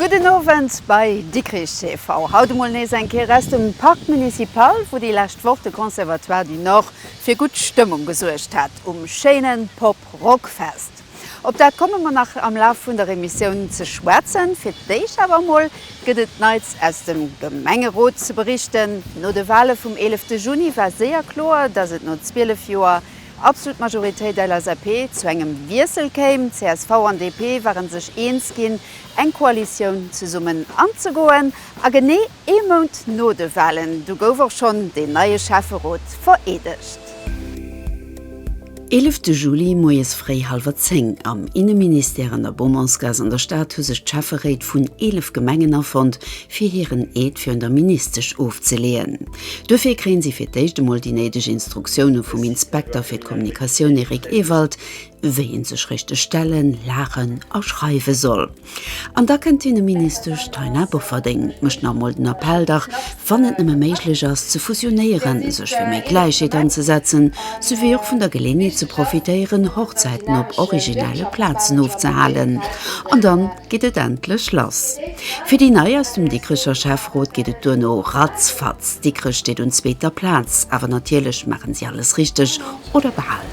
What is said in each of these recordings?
Gudden Owend bei Dikrich TV. Haut emol nees eng Kéier aus dem Parc Municipal, wou déi lescht Woch de Conservatoire du Nord fir gutt Stëmmung gesuergt hat um schéine Pop Rock Fest. Op dat komme mer nach am Laf vun der Emissioun ze schwätzen. Fir d'éischt awer emol gëtt et Neits aus dem Gemengerot ze berichten. No de Wale vum 11 Juni war séier kloer, dass et no 12 Joer absolut Majoritéit LSAP, zu engem Wiessel kéim. CSV an DP ware sech eens ginn, eng Koalitioun zesummen anzegoen. A genee ee Mount no de Walen, du gouf och schonn deen neie Schäfferot vereedegt. Eelefte Juli, moies fréi hallwer zéng, am Inneministère an der Beaumontsgaass an der Stad hu sech d'Schäfferéit vun 11 Gemengen afonnt, fir hiren Eed virun der Ministesch ofzeleeën. Duerfir kréien si fir d'éischt emol déi néideg Instruktioune vum Inspekter fir d'Kommunikatioun Eric Ewald, wéi ee sech richteg stellen, laachen a schreiwe soll. An da kënnt d'Inneministesch Taina Bofferding, mécht nach emol den Appell, dach wann et nëmme méiglech ass, ze fusionéieren, sech fir méi Gläichheet anzesetzen, souwéi och vun der Geleeënheet ze profitéieren, Hochzäiten op originelle Plazen ofzehalen. An dann. geet et endlech lass. Fir déi Nei aus dem Dikrecher Schäfferot geet et duerno ratzfatz. Dikrech steet un zweeter Plaz, awer natierlech maachen si alles richteg oder bal.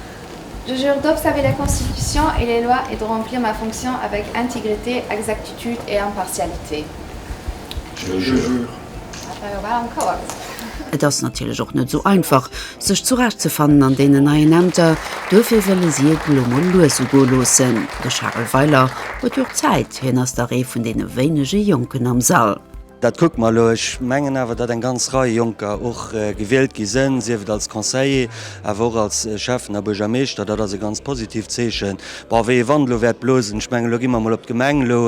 Je jure d'observer la Constitution et les lois et de remplir ma fonction avec intégrité, exactitude et impartialité. Je jure. Dat war jo bal an d'Kauer gesat. Et ass natierlech och net esou einfach, sech zurecht ze fannen an deenen neien Ämter. Duerfir wëlle si et elo mol lues ugoe loossen. De Charel Weiler huet jo Zäit, hien ass dach ee vun deene wéinege Jonken am Sall. Dat kucke mer elo. Ech mengen awer, datt eng ganz Rei Jonker och gewielt gi sinn, sief et als Conseiller, awer och als Schäffen a Buergermeeschter. Dat ass e ganz positiivt Zeechen. Bon, wéi ee Wand elo wäert blosen, ech mengen, elo gi mer emol op d'Gemeng elo.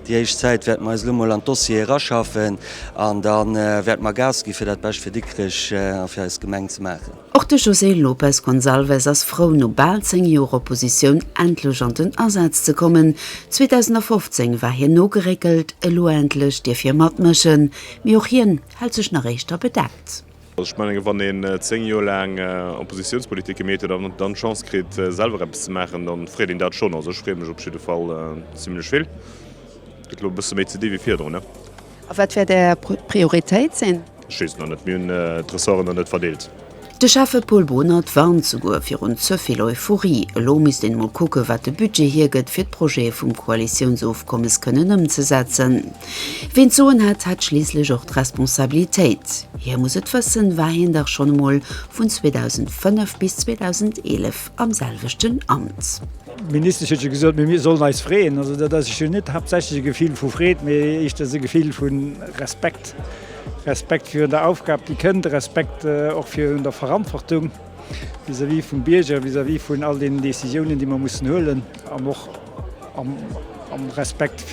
Déi éischt Zäit wäerte mer eis elo emol an d'Dossiere eraschaffen an da wäerte mer Gas gi fir dat Bescht fir Dikrech a fir eis Gemeng ze maachen. Och de José Lopes Gonçalves ass frou, no bal 10 Joer Oppositioun endlech an den Asaz ze kommen. 2015 war hien nogeréckelt, elo endlech dierf hie matmëschen. Mee och hien hält sech nach éischter bedeckt. Also ech menge wann een 10 Joer laang Oppositiounspolitik gemeet huet an dann d'Chance kritt selwer eppes ze maachen, da freet een dat schonn. Also ech free mech op jidde Fall zimlech vill. Gëtt elo e bësse méi ze di wéi virdrun ne. A wat wäert Är Prioritéit sinn? Ech weess et nach net. Mir hunn d'Ressorten nach net verdeelt. De Schäffe Paul Bohnert warnt souguer virun ze vill Euphorie. Elo misst een emol kucken, wat de Budget hiergëtt, fir d'Projete vum Koalitiounsofkommes kënnen ëmzesetzen. Ween d'Soen hat, hat schliisslech och d'Responsabilitéit. Hie muss et wëssen, war hien dach schonn emol vun 2005 bis 2011 am selwechten Amt. D'Ministesch huet jo gesot, mir sollen eis freeën. Also dat ass jo net haaptsächlech e Gefill vu Freed, mee éischters e Gefill vu Respekt. Respekt virun der Aufgab, déi kënnt, Respekt och virun der Verantwortung vis-à-vis vum Bierger, vis-à-vis vun all deenen Décisiounen, déi mer mussen huelen, an och am Respekt,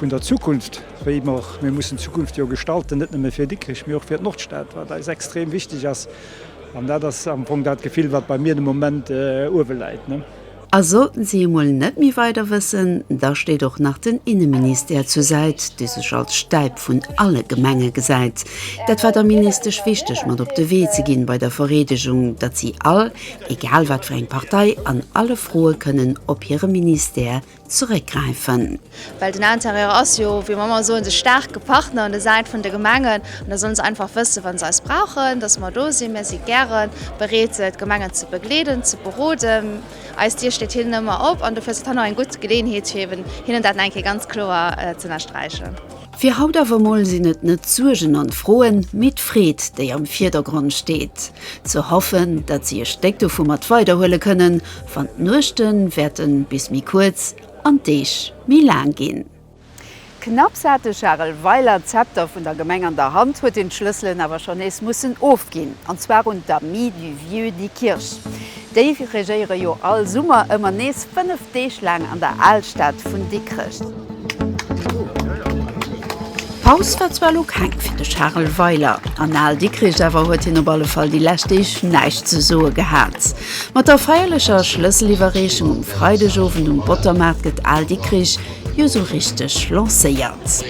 Vun der Zukunft, wéi mer och, mir mussen d'Zukunft jo gestalten, net nëmme fir Dikrech, mee och fir d'Nordstad, wat eis extrem wichtig ass. An dat ass am Fong dat Gefill, wat bei mir de Moment uewe läit. A sollten si emol net méi weider wëssen, da steet och nach den Inneministère zur Säit, dee sech als Stäip vun alle Gemenge gesäit. Dat war der Ministesch wichteg mat op de Wee ze ginn bei der Vereedegung, datt si all, egal wat fir eng Partei, an alle Froe kënnen op hire Ministère zeréckgräifen. Well den Interieur ass jo, wéi mer ëmmer soen, de staarke Partner un der Säit vun de Gemengen. An da sollen se einfach wëssen, wa se eis brauchen, dass mer do sinn. Mir si gäre bereet, d'Gemengen ze begleeden, ze beroden. Eis Dier steet hinnen ëmmer op. An dofir ass dat hei nach eng gutt Geleeënheet, fir hinnen dat nach eng Kéier ganz kloer z'ënnersträichen. Fir haut awer mol sinn et net d'Suergen an d'Froen, mee d'Freed déi am Vierdergrond steet. Ze hoffen dat si e Stéck dovu mat weiderhuele kënnen, wann d'Nuechte wäerten bis méi kuerz an d'Deeg méi laang ginn. Knapps hat de Charel Weiler d'Zepter vun der Gemeng an der Hand, huet hien d'Schlësselen awer schonn nees mussen ofginn, an zwar un d'Amis du Vieux Diekirch. Déi regéiere jo all Summer ëmmer nees fënnef Deeg laang an der Alstad vun Dikrech. Paus war zwar elo keng fir de Charel Weiler an Al-Dikrech, awer huet hien op alle Fall déi lescht Deeg näischt ze soe gehat. Mat der feierlecher Schlësseliwwerreechung um Freidegowend um Bottermaart gëtt Al-Dikrech jo esou richteg lancéiert.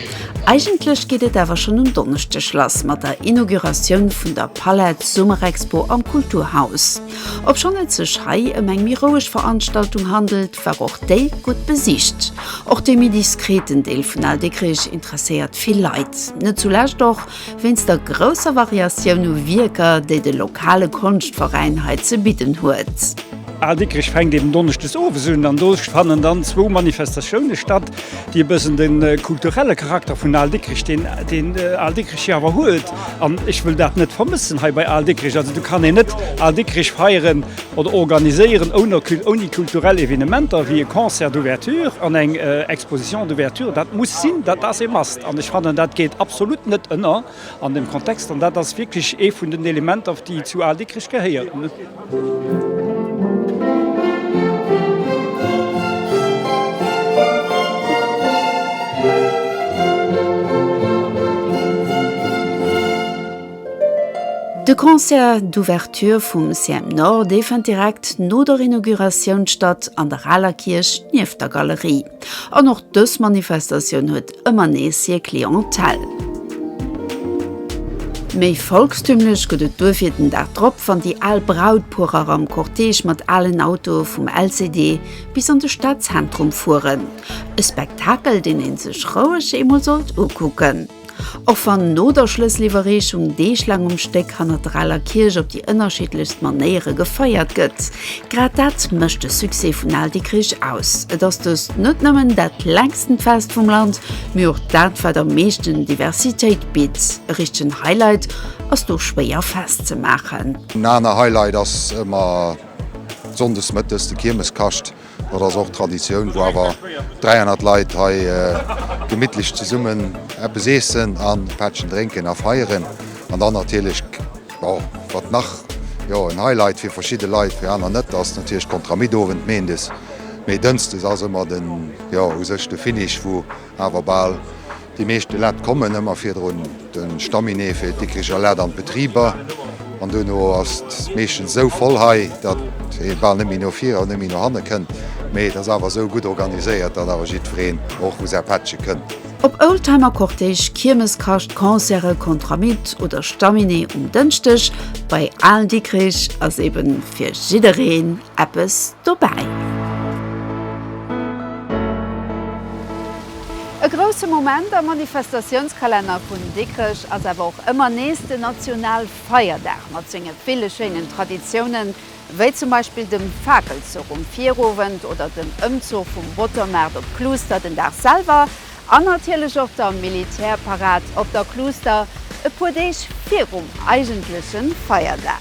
Eigentlech geet et awer schonn um Donneschdeg lass mat der Inauguratioun vun der. Palette Summerexpo am Kulturhaus. Obschonn et sech hei ëm eng méi roueg Veranstaltung handelt, war och déi gutt besicht. Och de méi diskreten Deel vun Al Dikkrich interesséiert vill Leit, net zulescht och wéinst der grousser Variatioun u Wierker, déi de lokale Konschtveräin hei ze bidden huet. Al Dikkrich fänkt eben donneschdes owes un an do fannen dann zwou Manifestatioune statt, déi e bëssen de kulturelle Charakter vun Al Dikkrich, deen Al Dikkrich jo awer huet, An ech wëll dat net vermëssen hei bei Al Dikkrich. Also do kann een net Al Dikkrich feieren oder organiséieren ouni kulturell Evenementer wéi e Concert d'ouverture an eng Exposition d'ouverture. Dat muss sinn, dat ass e must. An ech fannen, dat geet absolut net ënner an deem Kontext. An dat ass wierklech ee vun den Elementer, déi zu Al Dikkrich gehéieren. De Concert d'ouverture vum CMNor, dee fënnt direkt no der Inauguratioun statt an der aler Kierch nieft der Galerie. An och dës Manifestatioun huet ëmmer nees hir Clientèle. Méi volkstümlech gëtt et duerfir den Dag drop, wann déi al Brautpuerer am Cortège mat alen Autoe vum LCD bis an de Stadzentrum fueren. E Spektakel, deen ee sech roueg eemol sollt ukucken, och wann no der Schlësseliwwerreechung deeglaang um Stéck hannert der aler Kierch op déi ënnerschiddlechst Manéiere gefeiert gëtt. Grad dat mécht de Succès vun Al Dikkrich aus. Et ass dëst net nëmmen dat längsten Fest vum Land, mee och dat wat am meeschten Diversitéit bitt. E richtegen Highlight ass do schwéier festzemaachen. En aner Highlight ass ëmmer Sonndes mëttes de Kiermeskascht. Dat ass och Traditioun, wou awer 300 Leit hei gemittlech zesummen eppes iessen an e Pättchen drénken a feieren. An dann natierlech, jo, wat nach, jo, en Highlight fir verschidde Leit, fir aner net, ass natierlech d'Contramittowend meendes. Mee dënsdes ass ëmmer den, jo, u sech de Finish, wou awer bal, Déi meescht Lett kommen ëmmer virdrun de Staminee fir d'Dikricher Lett an d'Betriber an duerno ass et meeschtens esou voll hei, datt ee bal net méi no vir an net méi no hanne kënnt. Mee et ass awer esou gutt organiséiert, datt awer jiddwereen och u säi Pättche kënnt. Ob Oldtimer Cortège, Kiermes, Kascht, Concerte, Contramitt oder Staminee um Dënschdeg bei Aalen-Dikrich, ass eben fir jiddereen eppes dobäi. E grousse Moment am Manifestatiounskalenner vun Dikrech ass awer och ëmmer nees den Nationalfeierdag mat senge ville schéinen Traditiounen, wéi zum Beispill dem Fakelzuch um Virowend oder dem Ëmzuch vum Bottermaart op d'Kluuster den Dag selwer an natierlech och der Militärparad op der Kluuster e puer Deeg virum eigentleche Feierdag.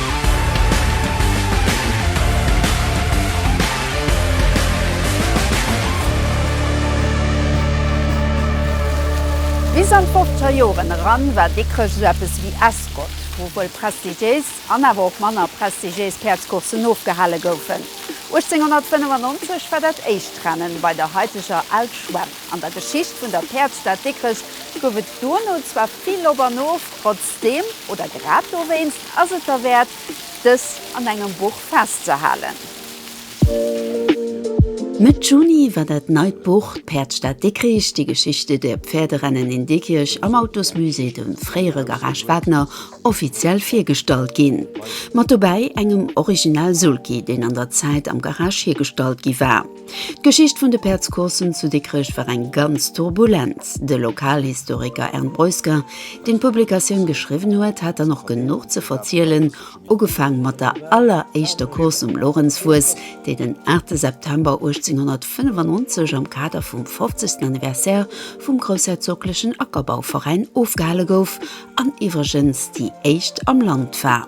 Bis an d'fofzer Joren eran war Dikrech esou eppes ewéi Escott, wou wuel prestigiéis an awer och manner prestigiéis Päerdscourssen ofgehale goufen. 1895 war dat éischt Rennen bei der haiteger Al Schwemm. An der Geschicht vun der Päerdsstad Dikrech gouf et duerno zwar vill Op an Of, trotzdeem, oder grad dowéinst, Ass et derwäert, dës an engem Buch festzehalen? Mëtt Juni war dat neit Buch D'Päerdsstad Dikrich, Die Geschichte der Pferderennen in Dikrich am Autosmusée, dem fréiere Garage Wagner, offiziell virgestallt ginn. Mat dobäi engem Original Sulky, deen an der Zäit am Garage hiergestallt gi war. D'Geschicht vun de Päerdscourssen zu Dikrech war eng ganz turbulent. De Lokalhistoriker Ern Breusger, deen d'Publikatioun geschriwwen huet, hat dann och genuch ze verzielen, ugefaang mat der alleréischter Course um Lorenzfuuss, déi den 8 September 1895 am Kader vum 50. Anniversaire vum groussherzoglechen Ackerbauveräin ofgehale gouf an iwwregens déi éischt am Land war.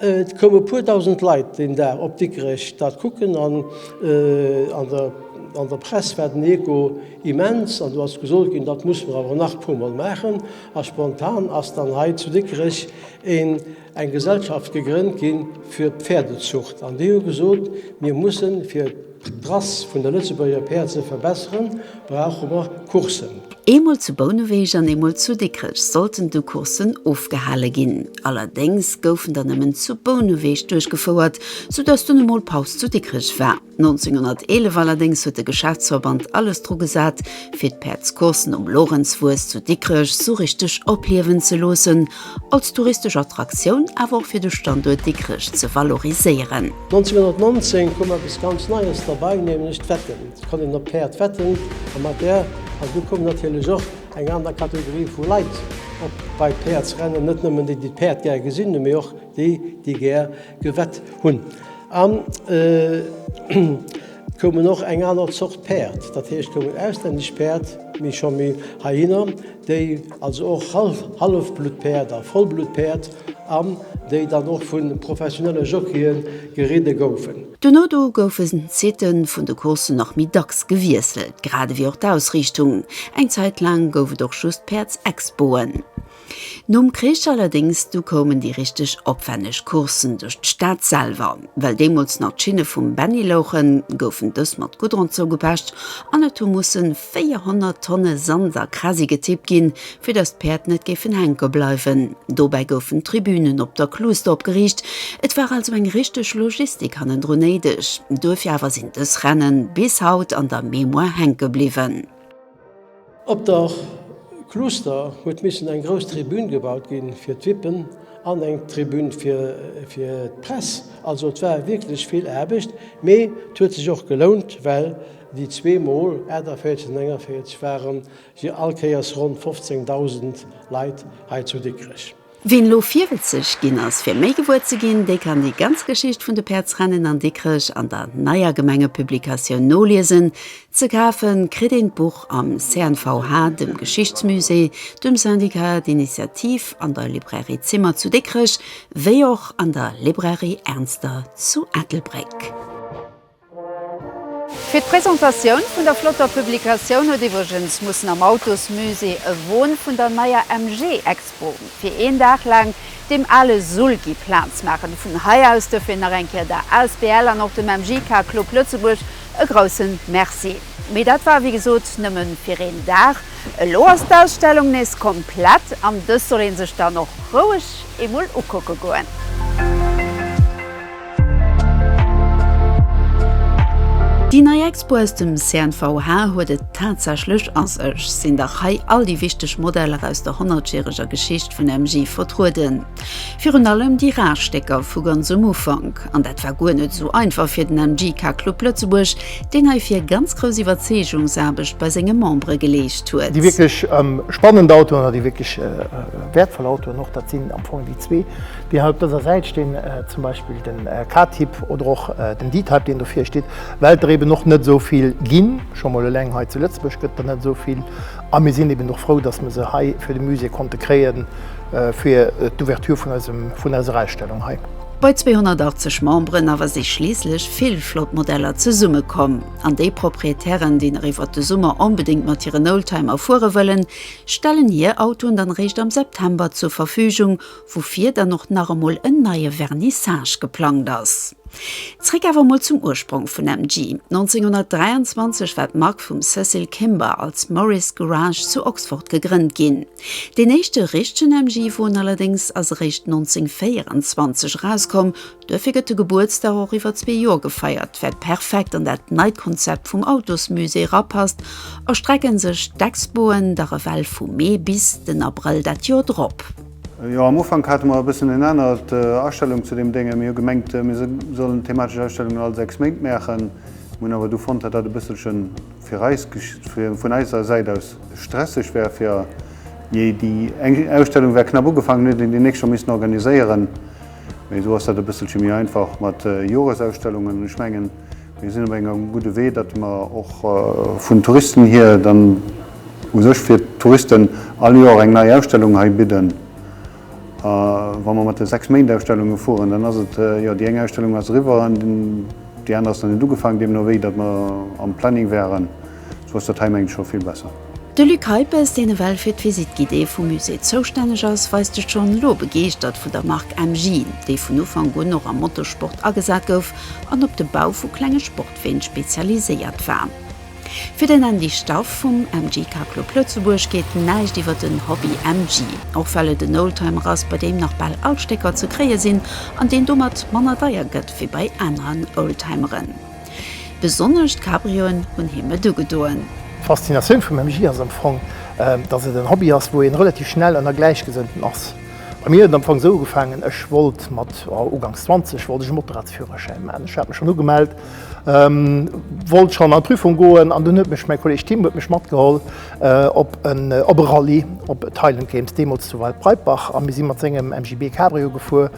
Et koumen e puer dausend Leit deen Dag op Dikrech dat kucken an an der Press war den Echo immens an do ass gesot ginn, dat musse mer awer nach e puer mol maachen. A spontan ass dann hei zu Dikrech een eng Gesellschaft gegrënnt ginn fir d'Pferdezucht an déi hu gesot, mir mussen fir D'Rass vun der Lëtzebuerger Päerd ze verbesseren, brauche mer Courssen. Eemol zu Bouneweg an eemol zu Dikrech sollten du Courssen ofgehale ginn. Allerdéngs goufen der nëmmen zu Bouneweg duerchgefouert, soudatt dunn emol Paus zu Dikrech war. 1911 allerdéngs huet de Geschäftsverband alles dru gesat, fir d'Päerdscourssen um Lorenzfues zu Dikrech sou richteg opliewen ze loossen, als touristesch Attraktioun, awer och fir de Standuert Dikrech ze valoriséieren. 1919 koum eppes ganz Neies derbei, nämlech d'Wetten. Et konnt een op Päerd wetten a mat där, an du koum natierlech och eng aner Kategorie vu Leit op bei d'Päerdsrennen, net nëmmen déi, déi d'Päerd gär gesinn hunn, mee och déi, déi gär Gewett hunn. An et koumen och eng aner Zort Päerd, dat heescht koumen auslännesch Päerd, mee scho méi heihinner, déi also och Hallefbluttpäerd a Vollbluttpäerd, an déi dann och vu professionelle Jockeie geridde goufen. Duerno do goufen d'Sitte vun de Courssen nach méi dacks gewiesselt, grad ewéi och d'Ausriichtung. Eng Zäit laang gouf et och just Päerdsexpoen. Nom Krich allerdéngs, du koumen déi richteg opwänneg Courssen duerch d'Stad selwer. Well deemools nach d'Schinne vum Benni louchen, goufen dës mat Goudron zougepecht an et hu mussen 400 Tonne Sand a Krasi getippt ginn, fir datt d'Päerd net géifen hänke bleiwen. Dobäi goufen Tribünen op der Cluster opgeriicht. Et war also eng richteg Logistik hannendrun néideg. Duerfir awer sinn dës Rennen bis haut an der Mémoire hänke bliwwen. Op der Cluster huet missen eng grouss Tribün gebaut ginn fir d'Vippen an eng Tribün fir d'Press. Also et war wierklech vill Aarbecht, mee et huet sech och gelount, well déi zwee Mol, 48 an 49, ware se all Kéiers ronn 15.000 Leit hei zu Dikrech. Ween lo 40 ginn ass fir méi gewuer ze ginn, dee kann déi ganz Geschicht vun de Päerdsrennen an Dikrech an der neier Gemengepublikatioun noliesen. Ze kafe kritt een d'Buch am CNVH, dem Geschichtsmusée, dem Syndicat d'Initiative, an der Librairie Zimmer zu Dikrech, wéi och an der Librairie Ernster zu Ettelbréck. Fir d'Presentatioun vun der flotter Publikatioun huet iwwregens mussen am Autosmusée e Won vun der neier MG Expo fir een Dag laang dem ale Sulky Plaz maachen. Vun hei aus duerfir nach eng Kéier der Asbl an och dem MG Car Club Lëtzebuerg e groussen Merci. Mee dat war wéi gesot nëmme fir een Dag. Elo ass d'Ausstellung nees komplett an dës soll ee sech dann och roueg eemol ukucke goen. Déi nei Expo aus dem CNVH huet et tatsächlech a sech. Sinn dach hei all déi wichteg Modeller aus der honnertjäreger Geschicht vun MG vertrueden. Virun allem déi rar Stécker vu ganz um Ufank. An dat war guer net esou einfach fir den MG Car Club Lëtzebuerg, deen heifir ganz grouss Iwwerzeegungsaarbecht bei senge Membere geleescht huet. Déi wierklech spannend Autoen, oder déi wierklech wäertvoll Autoen och, dat sinn am Fong déi zwee. Déi hei op dëser Säit stinn, zum Beispill de K-Typ oder och den D-Type, deen do vir steet, well der eben och net esou vill ginn. Scho mol eleng hei zu Lëtzebuerg gëtt der net esou vill. A mir sinn eben och frou, dass mer se hei fir de Musée konnte kréien, fir d'Ouverture vun eisem, vun eiser Ausstellung hei. Bei 280 Memberen awer si schliisslech vill flott Modeller zesummekomm. An déi Proprietären, déi nach iwwert de Summer onbedéngt mat hiren Oldtimer fuere wëllen, stellen hir Autoen dann eréischt am September zur Verfügung, woufir dann och nach emol en neie Vernissage geplangt ass. Zréck awer emol zum Ursprong vun MG. 1923 war d'Mark vum Cecil Kimber als Morris Garage zu Oxford gegrënnt ginn. Deen éischte richtegen MG-Won allerdéngs ass eréischt 1924 erauskomm, duerfir gëtt de Gebuertsdag och iwwer zwee Joer gefeiert, wat perfekt an dat neit Konzept vum Autosmusée erapasst, erstrecken sech d'Expoen da ewell vu Mee bis den Abrëll dat Joer drop. Jo, am Ufank hate mer e bëssen en anert Astellung zu deem Dénge. Mir hu gemengt, mir sollen thematesch Ausstellungen all 6 Méint maachen. Mir hunn awer du fonnt, datt dat e bësselchen fir eis, vun eiser Säit aus, stresseg wär, fir jee déi eng Ausstellung wär knapp ugefaangen, mir hätten déi nächst scho missen organiséieren. Mee esou ass dat e bësselche méi einfach mat Joresausstellungen. Ech mengen, Mir sinn op engem gudde Wee, datt mer och vun Touristen hier dann u sech fir d'Touristen all Joer eng nei Ausstellung hei bidden. A wa mer mat de 6 Méint Ausstellunge fueren, dann ass et, jo, déi eng Ausstellung ass eriwwer an déi aner ass nach net ugefaangen, deemno wéi datt mer am Planning wäeren, Sou ass dat hei mengen ech scho vill besser. De Luc Heipes, deen ewell fir d'Visite guidée vum Musée zoustänneg ass, weist sech schonn elo begeeschtert vu der Mark MJ, déi vun Ufank un och am Motosport agesat gouf an op de Bau vu klenge Sportween spezialiséiert war. Fir den Andy Staff vum MJ Car Club Lëtzebuerg geet näischt iwwer den Hobby MJ, och well et en Oldtimer ass, bei deem nach bal all Stécker ze kréie sinn an deen domat manner deier gëtt wéi bei aneren Oldtimeren. Besonnesch d'Cabrioen hunn him et ugedoen. D'Faszinatioun vum MJ ass am Fong, datt et en Hobby ass, wou een relativ schnell ënner Gläichgesënnten ass. Bei mir huet et am Fong esou ugefaangen, ech wollt mat, jo, uganks 20 wollt ech e Motorradsführerschäin maachen. Ech hat mech schonn ugemellt, wollt schonn an d'Prüfung goen an dunn huet mech mäi Kolleg Tim huet mech matgeholl op en, op e Rallye, op d'Highland Games, deemools zu Waldbreitbach, a mir si mat sengem MGB Cabrio gefuer.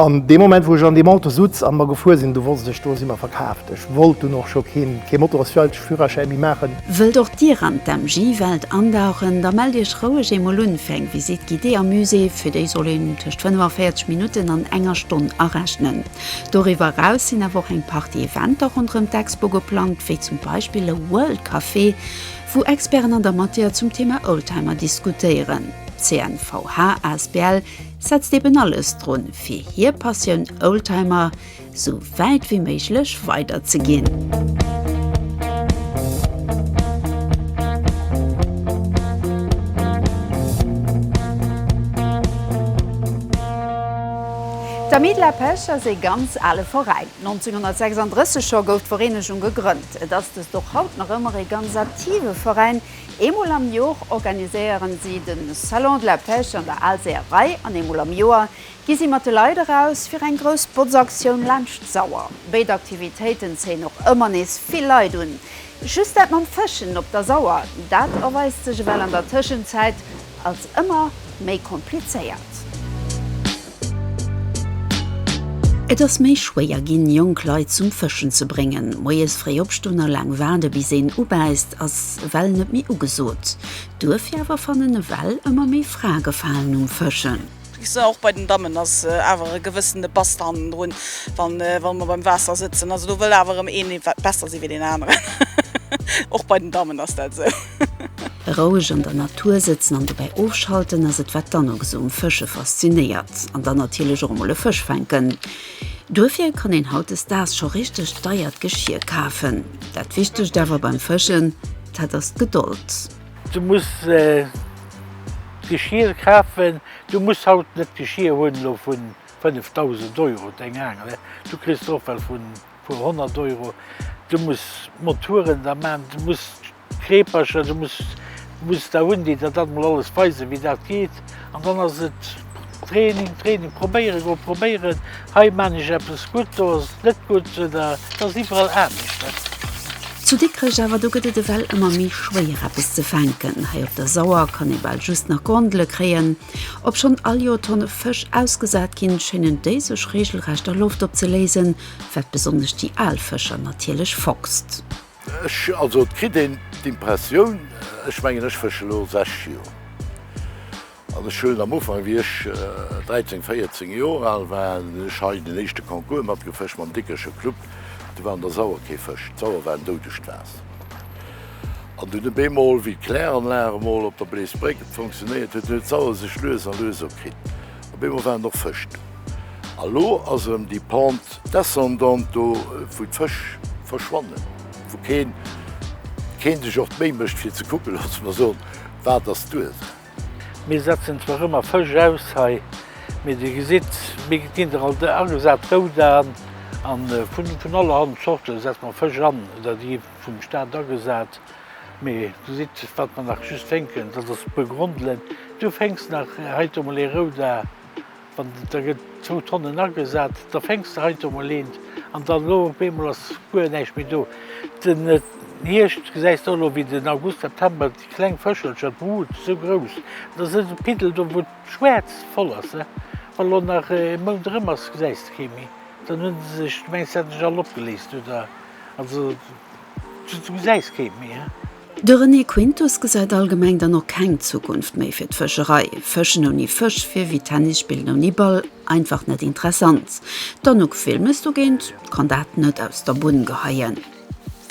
An dee Moment, wou ech an deem Auto sutz an mer gefuer sin, du wosst ech, do si mer verkaaft. Ech wollt dunn och scho keen, keen Motorosfjallsführerschäi méi maachen. Wëllt och Dir an d'MG-Welt andauchen? Da mellt Iech roueg eemol un fir eng Visite guidée am Musée. Fir déi soll een tëscht 45 Minutten an enger Stonn arechnen. Doriwwer eraus sinn awer och eng Partie Eventer ronderëm d'Expo geplangt, wéi zum Beispill e World Café, wou Experten an der Matière zum Thema Oldtimer diskutéieren. CNVH asbl. setzt eben alles drun fir hier Passioun Oldtimer sou wäit wéi méiglech weider ze ginn. D'Amis de la Pêche ass ee ganz ale Veräin. 1936 scho gouf d'Vereenegung gegrënnt. Et ass dëst och haut nach ëmmer ee ganz aktive Veräin, Eemol am Jor organiséieren si de Salon de la Pêche an der Aalseeërei an eemol am Joer gi si mat de Leit eraus fir eng grouss Botzaktioun laanscht d'Sauer. Béid Aktivitéiten zéien och ëmmer nees vill Leit un. Just dat mam Fëschen op der Sauer, dat erweist sech ewell an der Tëschenzäit als ëmmer méi komplizéiert. Et ass méi schwéier ginn, jonk Leit zum Fëschen ze bréngen. Moies fréi opstoen a laang waarde bis een ubäisst ass ewell net méi ugesot. Duerfir awer fannen ewell ëmmer méi Frae Gefalen um Fëschen. Och bei den Dammen ass awer e gewëssene Bass hannendrun, wa mer beim Waasser sëtzen. Also do wëll awer erëm een ee besser si wéi deen aneren. Och bei den Dammen ass dat esou. Roueg an der Natur sëtzen an dobäi ofschalten ass et, wat d'Anox um Fësche faszinéiert. An dann natierlech och emol e Fësch fänken. Duerfir kann een hautdesdaags scho richteg deiert Geschier kafen. Dat Wichtegst awer beim Fëschen, dat ass d'Gedold. Du muss Geschier kafen, du muss haut net Geschier hunn elo vu 5.000 Euro, deng Aangel, du kriss der och well vun. Puer honnert Euro, du muss Moturen da man, du muss Kreepercher, du muss muss da hunn, déi der dat mol alles weisen, wéi dat geet. An dann ass et Training, Training, probéiere goen, probéieren, hei man ech eppes gutt, do ass et net gutt, oder? Et ass iwwerall anescht, net? Zu Dikrech awer, do gëtt et ewell ëmmer méi schwéier eppes ze fänken. Hei op der Sauer kann ee bal just nach Grondele kréien. Obschonn all Joer Tonne Fësch ausgesat ginn, schéinen déi sech reegelrecht a Loft opzeléisen, wat besonnesch déi al Fëscher natierlech fockst. Ech, also et kritt een d'Impressioun, ech mengen ech fësche lo 6 Joer an ech hunn am Ufank, wéi ech 13, 14 Joer al war, hunn ech hei den éischte Concours matgefëscht mam Dickersche Club, do war an der Sauer kee Fësch, d'Sauer war en doudegt Waasser. Schied. An dunn e bemol, wéi d'Kläranlag emol op der Bleesbréck fonctionnéiert huet, huet d'Sauer sech lues a lues opkritt. Op eemol waren och Fësch do. A lo ass erëm déi Pente descendante do, wou d'Fësch verschwannen, wou keen, keen sech och d'Méi mécht, fir ze kucken, loosse mer soen, Wat ass d'Ursaach? Mir setzen zwar ëmmer Fësch aus hei, mee Dir gesitt, mir ginn der alt agesat rout an. A vun allerhand Zorte setze mer Fësch an oder déi gi vum Staat agesat. Mee Dir gesitt, wat mer nach just fänken, dat ass Begrondelen. Du fänks nach heite mol ee rout a. Wann da gëtt zwou Tonnen agesat, da fänks de heito mol een an dann elo op eemol ass guer näischt méi do. Den Hierscht gesäis de och elo, wéi den August, September, déi kleng Fëschelcher, d'Brut ass esou grouss, et ass net e Piddel do, wou d'Schwäerz voll ass. Wa elo nach e Mount erëm ass, gesäis de kee méi, dann hunn se sech, du mengs se hätte sech all opgeléist, oder? Also. De René Quintus gesäit allgemeng dann och keng Zukunft méi fir d'Fëscherei. Fëschen ouni Fësch wier wéi Tennis spillen ouni Ball, einfach net interessant. D'Anouk Wilmes dogéint kann dat net aus der Bunn geheien.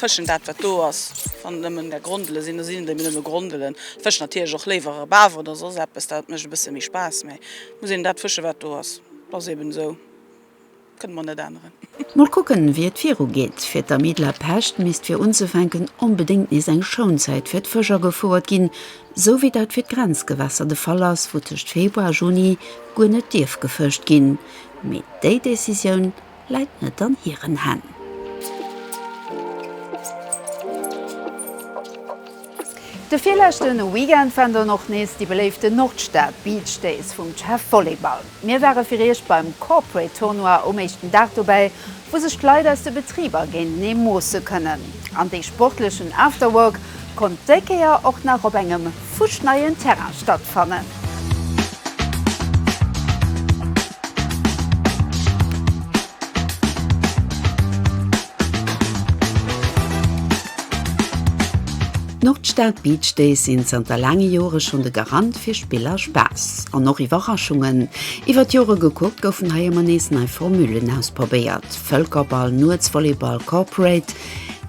Fëschen, dat wat do ass, wann et nëmmen der Grondele sinn, da sinn et ebe nëmme Grondelen. Ech fëschen natierlech och léiwer e Baf oder soss eppes, dat mécht e bësse méi Spaass, mä et muss een dat fëschen, wat do ass. Dat ass eben esou. Kënne mer net änneren. Mol kucken wéi et viru geet. Fir d'Amie de la Pêche misst fir unzefänken onbedéngt nees eng Schounzäit fir d'Fësch agefouert ginn, sou wéi dat fir d'Grenzgewässer de Fall ass, wou tëscht Februar a Juni guer net dierf gefëscht ginn. Mee déi Decisioun läit net an hiren Hänn. De virleschte Weekend waren dann och nees déi beléiften Nordstad Beach Days vum CEF Volleyball. Mir ware fir Iech beim Corporate Tournoi um éischten Dag dobäi, wou sech d'Leit aus de Betriber géintenee moosse kënnen. An dee sportlechen Afterwork konnt déi Kéier och nach op engem fuschneien Terrain stattfannen. D'Nordstad Beach Days sinn zanter laange Jore schonn de Garant fir Spill a Spaass. An och Iwwerraschungen. Iwwer d'Jore gekuckt goufen hei ëmmer nees nei Formullen ausprobéiert, Vëlkerball, Nuetsvolleyball, Corporate.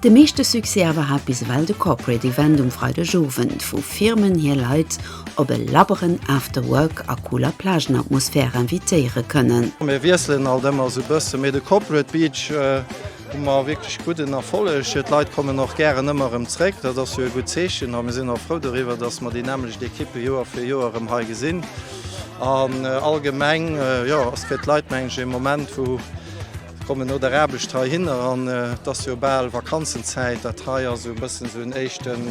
De meeschte Succès awer hat bis ewell de Corporate Event um Freidegowend, wou Firmen hir Leit op e labberen After Work a cooler Plagenatmosphär invitéiere kënnen. Mir wiesselen alt ëmmer esou e bësse, mee de Corporate Beach hu mer wierklech gudden Erfolleg. D'Leit kommen och gären ëmmer erëm zréck, dat ass jo e gutt Zeechen. A mir sinn och frou doriwwer, dass mer déi nämmlecht Ekippe Joer fir Joer erëm hei gesinn. An allgemeng, jo, ass fir d'Leit, mengen ech, e Moment, wou. Kommen no der Aarbecht heihinner an et ass jo bal Vakanzenzäit. Dat hei ass esou e bëssen esou en éischten,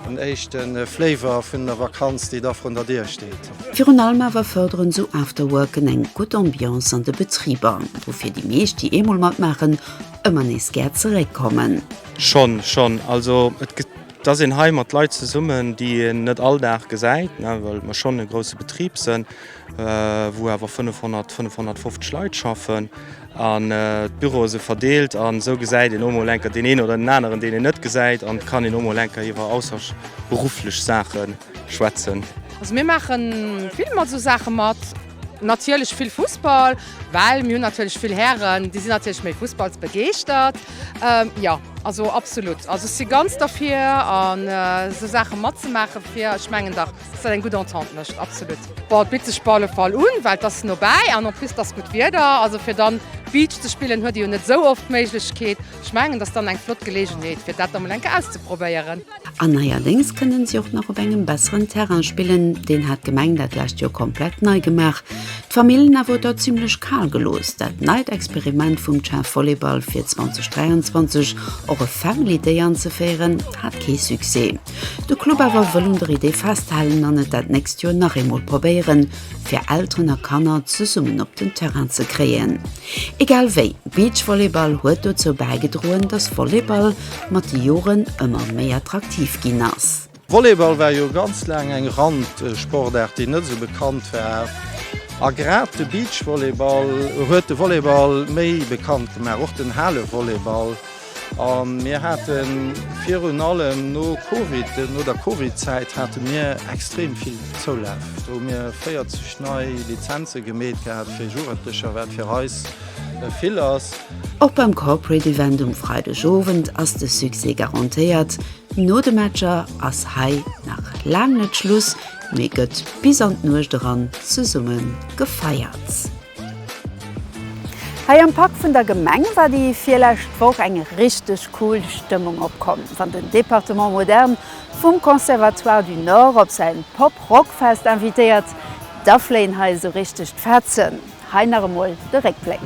en éischten Flavor vun der Vakanz, déi da vrun der Dier steet. Virun allem awer fërderen esou Afterworken eng gutt Ambiance an de Betriber, woufir déi meescht, déi eemol matmaachen, ëmmer nees gär zeréckkommen. Schonn, schonn. Also et gëtt, et ass een hei mat Leit zesummen, déi een net all Dag gesäit, well mer schonn e grousse Betrib sënn. wou awer 500, 550 Leit schaffen an d'Büroe se verdeelt an esou gesäit een och mol enker deen een oder den aneren, deen een net gesäit an kann een och mol enker iwwer ausserberufflech Saache schwätzen. Also mir maache vill mat esou Saache mat. Natierlech vill Fussball, well mir hunn natierlech vill Hären, déi sinn natierlech méi fussballsbegeeschtert. Jo, also absolutt, also ech si ganz derfir an esou Saache matzemaachen, fir, ech mengen dach, Dass dat eng gutt Entente mécht, absolut. Bon, et bitt sech op alle Fall un, well et ass nobäi an en plus et ass gutt Wieder. Also fir dann Beach ze spillen, huet ee jo net esou oft d'Méiglechkeet. Ech mengen, et ass dann eng flott Geleegenheet, fir dat da mol eng Kéier auszeprobéieren. An neierdéngs kënnen si och nach op engem besseren Terrain spillen. Deen hat d'Gemeng dat lescht Joer komplett nei gemaach. D'Famillen awer huet der zimmlech kal gelooss. Dat neit Experiment vum Chef Volleyball fir 2023 och e Family Day anzeféieren, hat kee Succès. De Club awer wëll un der Idee festhalen an et dat nächst Joer nach eemol probéieren, fir Elteren a Kanner zesummen op den Terrain ze kréien. Egal wéi, Beachvolleyball huet dozou bäigedroen, datt Volleyball mat de Joren ëmmer méi attraktiv ginn ass. Volleyball war jo ganz laang eng Randsportaart, déi net esou bekannt war. A grad de Beachvolleyball huet de Volleyball méi bekannt gemaach, och den Halevolleyball. A mir hate virun allem no Covid, no der Covid-Zäit hate mir extrem vill Zoulaf. Do hu mir 40 nei Lizenze gemeet gehat fir Jugendlecher, wat fir eis vill ass. Och beim Corporate Event um Freideg Owend ass de Succès garantéiert. No de Matcher ass hei nach laang net Schluss, mee gëtt bis an d'Nuecht eran zesumme gefeiert. Hei am Park vun der Gemeng war déi virlescht Woch eng richteg cool Stëmmung opkomm, wann den Département Moderne vum Conservatoire du Nord op säin Pop-Rock-Fest invitéiert, da fléien hei esou richteg d'Fetzen. Hei nach emol de Réckbléck.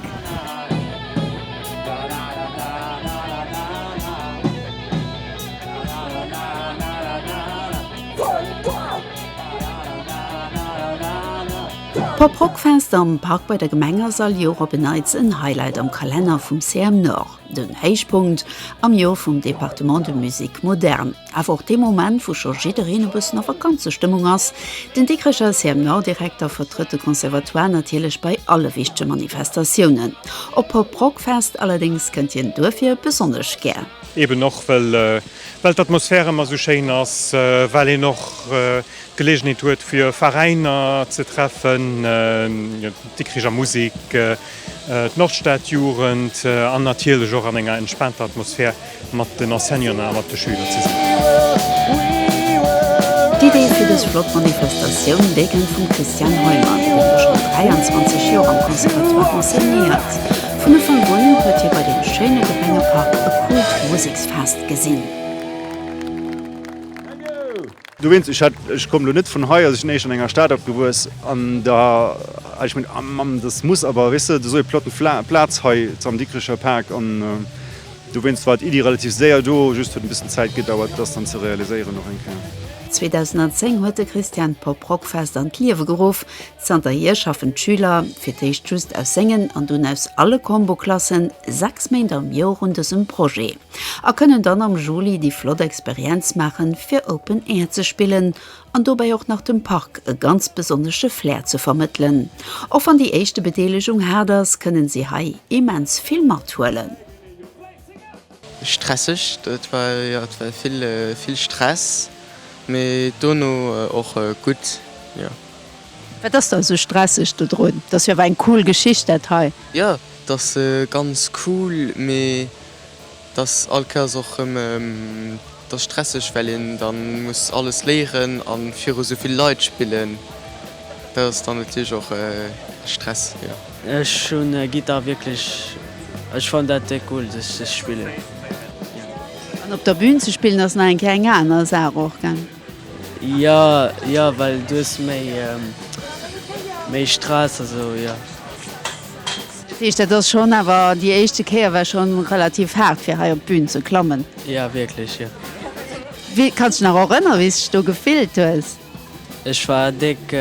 D'Poprockfest am Park bei der Gemeng ass all Joer op en Neits en Highlight am Kalenner vum CM Nord. Den Héichpunkt am Joer vum Département de Musique Moderne, awer och dee Moment, wou scho jiddereen e bëssen a Vakanzestëmmung ass. Den Dikrecher CM Nord-Direkter vertrëtt de Conservatoire natierlech bei alle wichtege Manifestatiounen. Op d'Poprockfest allerdéngs kënnt hien duerfir besonnesch gär. Eben och, well d'Atmosphär ëmmer esou schéin ass, well een och. Gelegenheet huet fir Veräiner ze treffen, d'Dikricher Musik, d'Nordstadjugend, an natierlech och an enger entspaanter Atmosphär mat den Enseignanten a mat de Schüler ze sinn. D'Idee fir dës flott Manifestatioun, déi kënnt vum Christian Heumann, dee jo schonn 23 Joer am Conservatoire enseignéiert. Vun Ufank un huet hie bei deem schéine Gemengepark e Kult-Musiksfest gesinn. Du wéinst, ech hat, ech komm lo net vun hei, also ech sinn éischter an enger Stad opgewuess, an da hat ech gemengt, ah Mamm, dass muss awer, weess de, do esou e plotten Fla, Plaz hei am Dikricher Park, an do wéinst war d'Iddi relativ séier do, just huet e bëssen Zäit gedauert, dass dann ze realiséieren och eng Kéier. 2010 huet de Christian d'Pop Rock Fest an d'Liewe geruff. Zanterhier schaffen d'Schüler, fir d'éischt just aus sengen an dunn aus alle Combo Klassen, sechs Méint am Joer un dësem Projet. a kënnen dann am Juli déi flott Experienz maachen, fir Open Air ze spillen an dobäi och nach dem Park e ganz besonnesche Flair ze vermëttelen. Och wann déi éischte Bedeelegung haart ass, kënnen si hei immens vill mathuelen. Stresseg, et war jo vill Stress, mee dono och gutt, jo. Wat ass da esou stresseg dodrun? Et ass jo awer eng cool Geschicht dat hei. Jo, et ass ganz cool, mee Et ass all Kéiers och rëm, et ass stresseg, well een da muss alles léieren a viru esou vill Leit spillen. Dat ass dann natierlech och e Stress, jo. Ech hunn Gittar wierklech, ech fannen dat déck cool, dass ech dat spillen. An op der Bün ze spillen ass nach eng Kéier eng aner Saach och, gell? Jo jo well du hues méi méi Stress a sou jo. Dat heescht dat ass schonn awer déi éischte Kéier war schonn relativ haart fir hei op d'Bühn ze klammen? Jo wierklech jo. Wéi kanns du dech nach erënnere wéis du dech do gefillt hues? Ech war déck.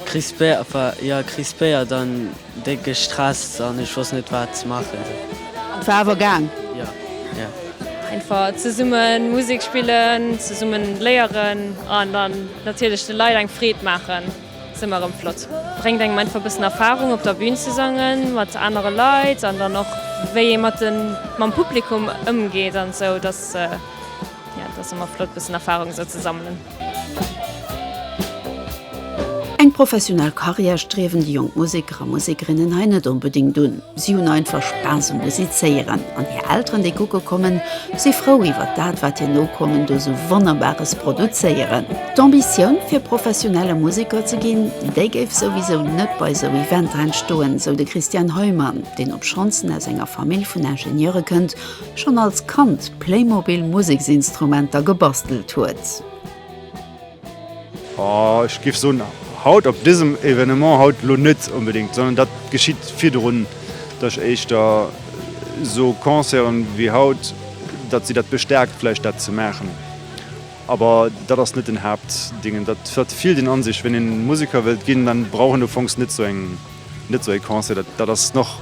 Krispéiert an déck gestresst an ech wosst net wat ze machen. An war awer gaang. Einfach zesummen Musik spillen, zesummen léieren an dann natierlech de Leit eng Freed maachen ass ëmmer erëm flott. Bréngt engem einfach e bëssen Erfahrung op der Bühn ze sangen mat anere Leit an dann och wéi ee mat den mam Publikum ëmgeet an esou. Dat ass ëmmer flott bëssen Erfahrung esou ze sammelen. Eng professionell Karriär striewen déi jonk Museker a Musekerinnen hei net onbedéngt un. Si hunn einfach Spaass um Musizéieren an hir Elteren, déi kucke kommen, si frou iwwert dat, wat hir Nokommen do sou Wonnerbares produzéieren. D'Ambitioun, fir professionelle Museker ze ginn, déi géif souwisou net bei esou Eventer entstoen, sou de Christian Heumann, deen, obschonns en aus enger Famill vun Ingenieure kënnt, Schonn als Kand Playmobil Museksinstrumenter gebastelt huet. Oh, ech giff soen haut op dësem Evenement haut elo net onbedingt, sondern dat geschitt virdrun, dat ech éischter sou Concerten wéi haut, dat si dat bestärkt vläicht dat ze maachen. Awer dat ass net den Haaptdingen, dat huet vill den Ansich, wenn een Museker wëllt ginn, dann brauch een ufanks net sou eng. Net sou ee Concert, dat dat ass noch,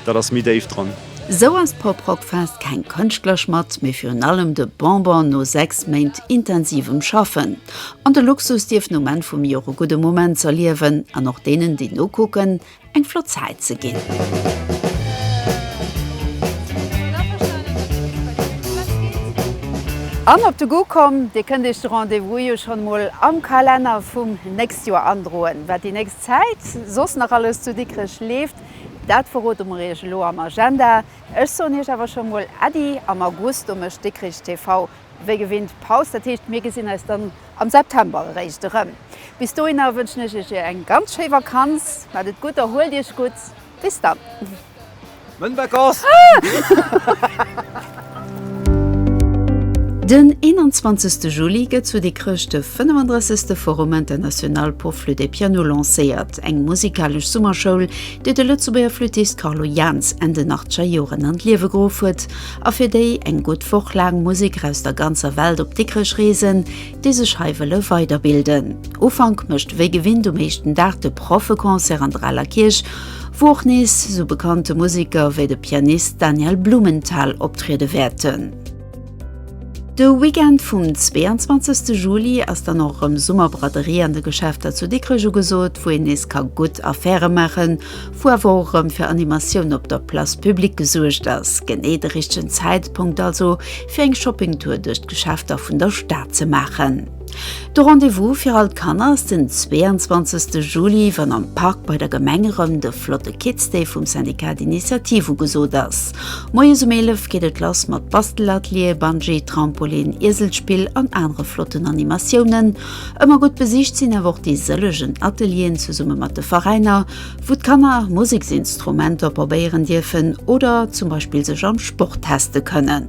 dat ass méi déif dran. Esou ass d'Poprockfest keng Kënschtler Schmatt, mee virun allem de Bonbon no 6 Méint intensivem Schaffen. An de Luxus dierf no Menn vum Joer e gudde Moment z'erliewen an och deenen, déi nokucken, eng flott Zäit ze ginn. An op de Goût komm, Dir kënnt Iech de Rendez-vous jo schonn emol am Kalenner vum nächst Joer androen, wat déi nächst. Zäit soss nach alles zu Dikrech leeft, dat verrote mer iech elo am Agenda. Ech soen iech awer scho mol Äddi, am August do mécht Dikrich TV wéi gewinnt Paus, dat heescht mir gesinn eis dann am September eréischt erëm. Bis dohinner wënschen ech iech eng ganz schéi Vakanz, maacht et gutt, erhuelt iech gutt. Bis dann. Mën Vacances! Den 21 Juli gëtt zu Dikrech de 35. Forum international pour flûte et piano lancéiert, eng musikalesch Summerschoul, déi de Lëtzebuerger Flüttist Carlo Jaans Enn den achtger Joren an d'Liewe geruff huet a fir déi eng gutt Woch laang Musiker aus der ganzer Welt op Dikrech reesen, déi sech hei wëlle weiderbilden. Ufank mécht wéi gewinnt um éischten Dag de Proffeconcert an der Aler Kierch, wou och nees sou bekannte Museker wéi de Pianist Daniel Blumenthal optriede wäerten. De Weekend vum 22 Juli ass dann och erëm Summerbraderie an de Geschäfter zu Dikrech ugesot, wou een nees ka gutt Affäre maachen wou awer och erëm fir Animatioun op der Place publique gesuergt ass, genee de richtegen Zäitpunkt also fir eng Shoppingtour duerch d'Geschäfter vun der Stad ze maachen. De Rendez-vous fir all d'Kanner ass den 22 Juli, wann am Park bei der Gemeng erëm de flotte Kids Day vum Syndicat d'Initiative ugesot ass. Moies um 11 geet et lass mat Bastelatelier, Bungee, Trampolin, Ieselspill an anere flotten Animatiounen. Ëmmer gutt besicht sinn awer och déi sëllegen Atelieren zesumme mat de Veräiner, wou d'Kanner Museksinstrumenter probéieren dierfen oder zum Beispill sech am Sport teste kënnen.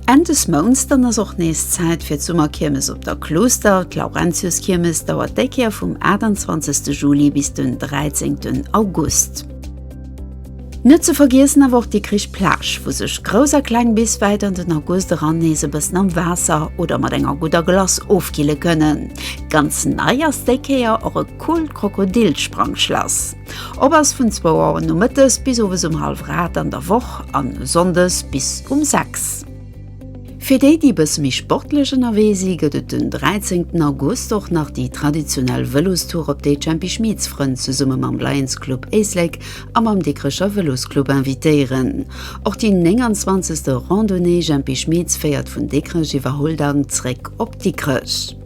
Enn des Mounts dann ass och nees Zäit fir d'Summerkiermes op der Klooster. D'Laurentiuskiermes dauert déi Kéier vum 28 Juli bis den 13 August. Net ze vergiessen awer och d'Dikrich Plage, wou sech Grouss a Kleng bis wäit an den August eran nees e bëssen am Waasser oder mat enger gudder Glace ofkille kënnen. Ganz nei ass déi Kéier och e coolt Krokodilsprangschlass. Op ass vun zwou Auer nomëttes bis owes um hallwrad an der Woch an sonndes bis um sechs. Fir déi, déi e bësse méi sportlech ënnerwee si gëtt et den 13 August och nach déi traditionell Vëlostour op déi d'Jempy Schmieds Frënn zesumme mam Lions Club Éislek a mam Dikrecher Vëlosclub invitéieren. Och déi 29. Randonnée Jempy Schmieds féiert vun Dikrech iwwer Huldang zréck op Dikrech.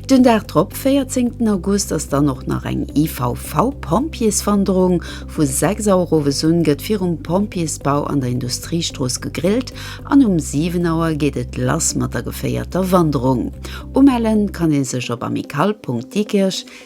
Den Dag drop, 14 den August, ass dann och nach eng IVV Pompjeeswanderung. Vu 6 Auer owes un gëtt virum Pompjeesbau an der Industriestrooss gegrillt an um 7 Auer geet et lass mat der geféierter Wanderung. Umellen kann ee sech op amicale.diekirch